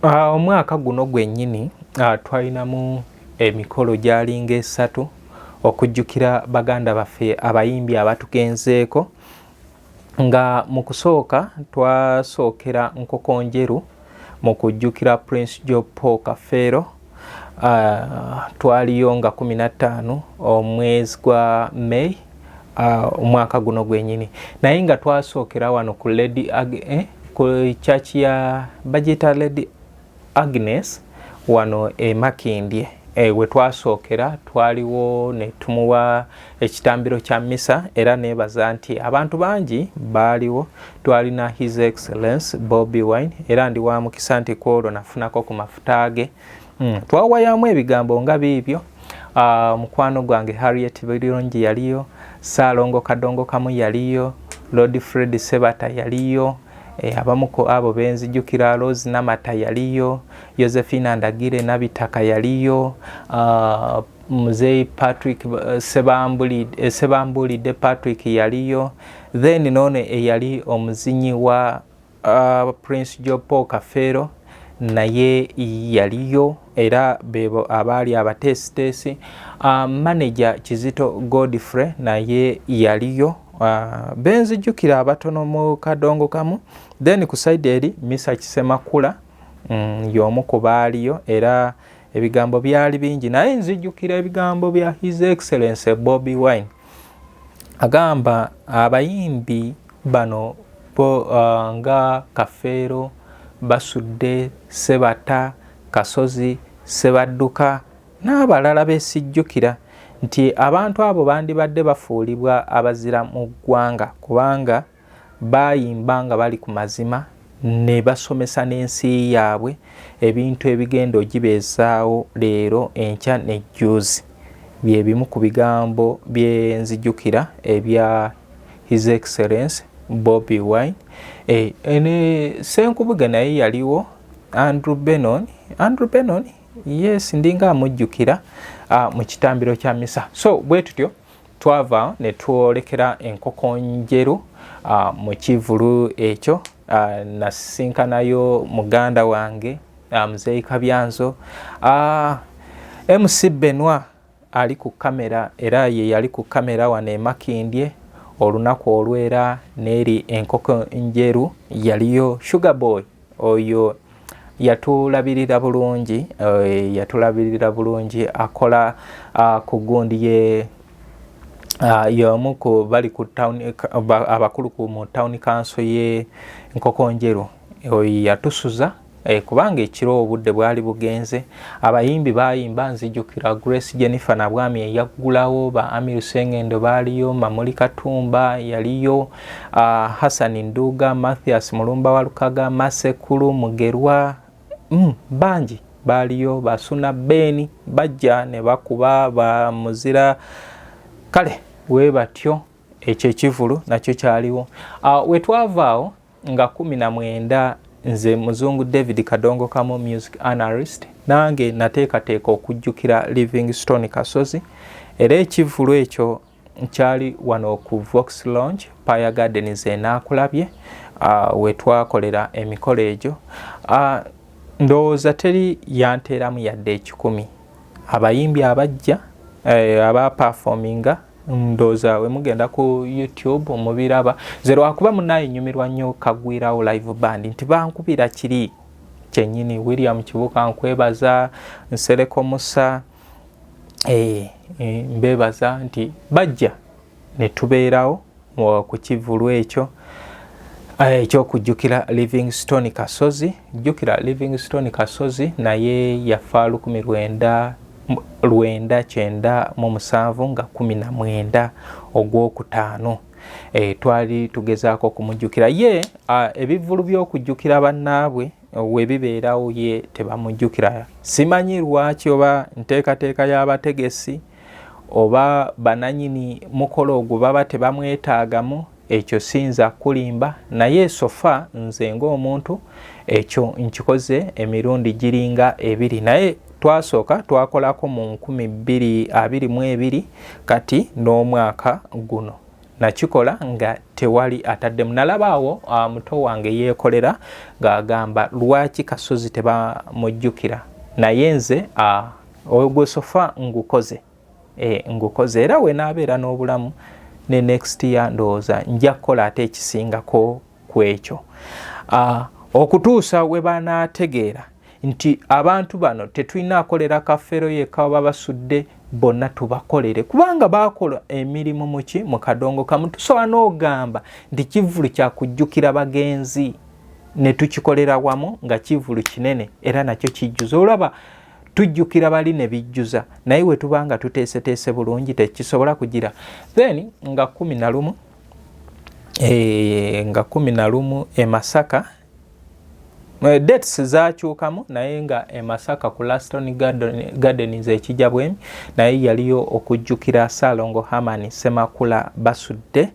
Ah, omwaka guno gwennyini ah, twalinamu emikolo gyalinga esatu okujjukira baganda baffe abayimbi abatugenzeeko nga mu kusooka twasookera nkokonjeru mu kujjukira prince jopo kafeero Uh, twaliyo nga kumi na ttaano omwezi gwa May uh, omwaka guno gwenyini naye nga twasookera wano ku lady ag eh, ku church ya bajeta lady Agnes wano e Makindye e, we twasookera twaliwo ne tumuwa ekitambiro kya misa era neebaza nti abantu bangi baaliwo twalina his excellence bobi wine era ndi wa mukisa nti ku olwo nafunako ku mafuta ge mm. twawayamu ebigambo nga biibyo uh, mukwano gwange harriet birungi yaliyo saalongo kadongo kamu yaliyo lord fred sebata yaliyo Eh, abamu ku abo benzijukira Rose Namata yaliyo, Josephine Ndagire Nabitaka yaliyo, uh, muzeeyi patrick eh, eh, sebambuulidde patrick yaliyo then noono eyali omuzinyi wa uh, prince jopo kafeero naye yaliyo era bebo abaali abateesiteesi uh, manager kizito godfrey naye yaliyo uh, benzijukira abatono mu kadongo kamu then ku saidi eri misa kisemakula mm, yomu ku baaliyo era ebigambo byali bingi naye nzijukira ebigambo bya his excellence bobi wine agamba abayimbi bano bo uh, nga kafeero basudde sebata kasozi sebadduka n'abalala besijjukira nti abantu abo bandibadde bafuulibwa abazira mu ggwanga kubanga baayimba nga bali ku mazima ne basomesa n'ensi yaabwe ebintu ebigenda ogibeezaawo leero enkya nejjuuzi bye bimu ku bigambo byenzijukira ebya his excellence bobi wine e, e, ne senkubuge naye yaliwo andrew benon andrew benon yes ndinga amujjukira ah, mu kitambiro kya misa so bwe tutyo twava ne twolekera enkoko njeru uh, mu kivulu ekyo uh, nasisinkanayo muganda wange uh, muzeeyi kabyanzo uh, mc benwa ali ku kamera era ye yali ku kamera wano emakindye olunaku olwera neeri enkoko njeru yaliyo sugar boy oyo yatulabirira bulungi eh, yatulabirira bulungi akola ah, ku gundi ye ah, yomu ku bali ku town abakulu ku mu town council ye nkokonjeru oyo yatusuza Eh, kubanga ekiro obudde bwali bugenze abayimbi bayimba nzijukira grace jennifer nabwami eyaggulawo ba amiru sengendo baaliyo mamuli katumba yaliyo Uh, Hassan Nduga, Mathias Mulumba Walukaga, Masekulu Mugerwa, mm, bangi baaliyo basuna beeni bajja ne bakuba ba muzira kale we batyo ekyo ekivulu nakyo kyaliwo uh, wetwavaawo nga kumi na mwenda nze muzungu david kadongo kamu music analyst nange nateekateeka okujjukira livingstone kasozi era ekivulu ekyo nkyali wano ku vox lounge paya gardens enaakulabye ah, wetwakolera emikolo egyo ah, ndowooza teri yanteeramu yadde ekikumi abayimbi abajja eh, aba performinga ndooza wemugenda ku youtube mubiraba nze lwakuba munaye nyumirwa nnyo kagwirawo live band nti bankubira kiri kyenyini william kibuka nkwebaza nsereko musa Eh, eh, mbebaza nti bajja netubeerawo ku kivulu ekyo eh, ekyokujjukira livingstone kasozi jjukira livingstone kasozi naye yafa lukumi lwenda lwenda kyenda mu musanvu nga kumi na mwenda ogwokutaano e, twali tugezaako okumujjukira ye ebivvulu by'okujjukira bannaabwe webibeerawo ye tebamujjukira simanyi lwaki oba nteekateeka y'abategesi oba bananyini mukolo ogwo baba tebamwetaagamu ekyo siyinza kukulimba naye sofa nze ng'omuntu ekyo nkikoze emirundi giringa ebiri naye twasooka twakolako mu 222 kati n'omwaka guno nakikola nga tewali ataddemu nalaba awo ah, muto wange yeekolera ng'agamba lwaki kasozi tebamujjukira naye nze ah, ogwesofa ngukoze eh, ngukoze era wenaabeera n'obulamu ne next year ndowooza nja kukola ate ekisingako ku ekyo ah, okutuusa we banaategeera nti abantu bano tetulina akolera kafeero yekka oba basudde bonna tubakolere kubanga baakola emirimu muki mu kadongo kamu tusobola n'ogamba nti kivulu kyakujjukira bagenzi ne tukikolera wamu nga kivulu kinene era nakyo kijjuza olaba tujjukira bali ne bijjuza naye we tuba nga tuteeseteese bulungi tekisobola kugira then nga kumi na lumu eh, nga kumi na lumu e masaka Eh, dates zakyukamu naye nga emasaka ku laston gardens ekija bwemi naye yaliyo okujjukira salongo hamani semakula basudde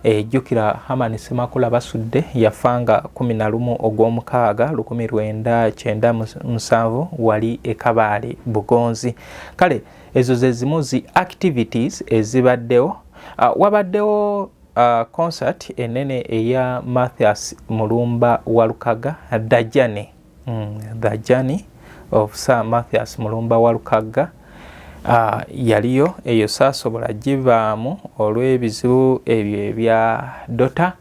ejjukira eh, hamani semakula basudde yafanga 11 ogwomukaaga 1997 wali ekabaale bugonzi kale ezo zezimu zi activities ezibaddewo ah, wabaddewo Uh, concert enene eya Mathias Mulumba Walukaga The Journey mm, The Journey of Sir Mathias Mulumba Walukaga uh, yaliyo eyo saasobola givaamu olw'ebizibu ebyo ebya dota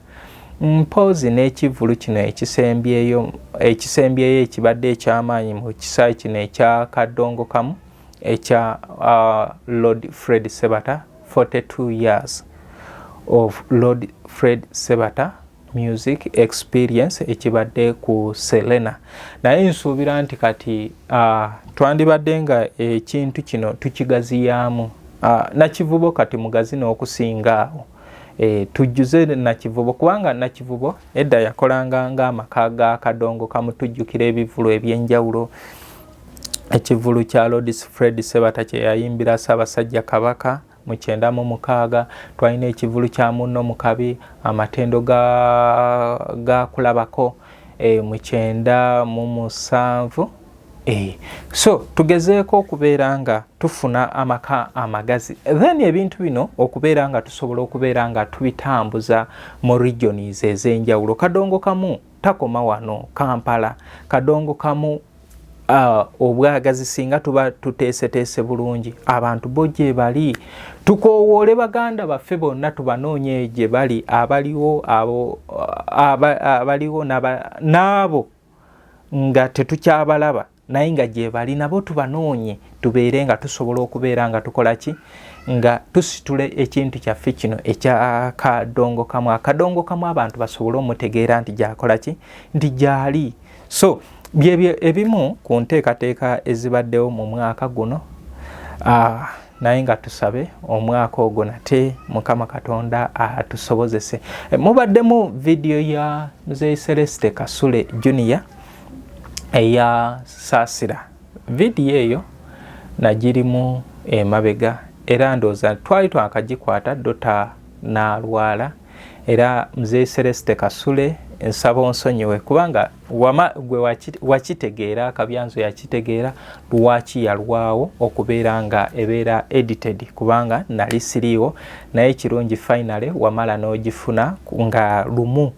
mpoozi n'ekivvulu kino ekisembyeyo ekisembyeyo ekibadde eky'amaanyi mu kisaayi kino ekya kaddongo kamu ekya uh, lord fred sebata 42 years of Lord Fred Sebata music experience ekibadde ku Selena naye nsuubira nti kati uh, twandibadde nga ekintu kino tukigaziyaamu uh, nakivubo kati mugazi n'okusinga awo e, tujjuze nakivubo kubanga nakivubo edda yakolanga ng'amaka ga kadongo kamutujjukira ebivulu eby'enjawulo ekivulu kya lodis fred sebata kyeyayimbira ssaabasajja kabaka mu kyenda mu mukaaga twalina ekivulu kya munno mu kabi amatendo gakulabako e, mu kyenda mu musanvu e. so tugezeeko okubeera nga tufuna amaka amagazi then ebintu bino okubeera nga tusobola okubeera nga tubitambuza mu regions ez'enjawulo kadongo kamu takoma wano kampala kadongo kamu uh, obwagazi singa tuba tuteeseteese bulungi abantu bo gye bali tukoowoole baganda baffe bonna tubanoonye gye bali abaliwo abo uh, abaliwo n'abo nga tetukyabalaba naye nga gyebali nabo tubanoonye tubeere nga tusobola okubeera nga tukola ki nga tusitula ekintu kyaffe kino ekyakadongo kamu akadongo kamu abantu basobole omutegeera nti gyakola ki nti gyali so byebyo ebimu ku nteekateeka ezibaddewo mu mwaka guno ah, naye nga tusabe omwaka ogwo nate mukama katonda atusobozese mubaddemu vidiyo ya mzee celeste kasule junior eya saasira vidiyo eyo nagirimu emabega era ndooza twali twakagikwata dota nalwala era mzee celeste kasule nsaba onsonyiwe kubanga wama gwe wakitegeera kabyanzo yakitegeera lwaki yalwawo okubeera nga ebeera edited kubanga nali siriiwo naye kirungi finally wamala n'ogifuna nga lumu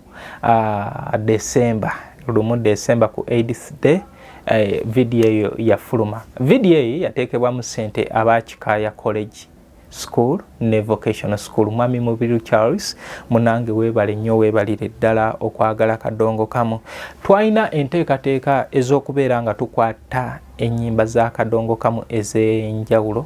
uh, December lumu December ku AIDS day eh, video eyo yafuluma. Video eyo yateekebwa mu sente aba Kikaaya College school ne vocational school. Mwami Mubiru Charles munange weebale nnyo weebalire ddala okwagala kadongo kamu. Twalina enteekateeka ez'okubeera nga tukwata ennyimba za kadongo kamu ez'enjawulo.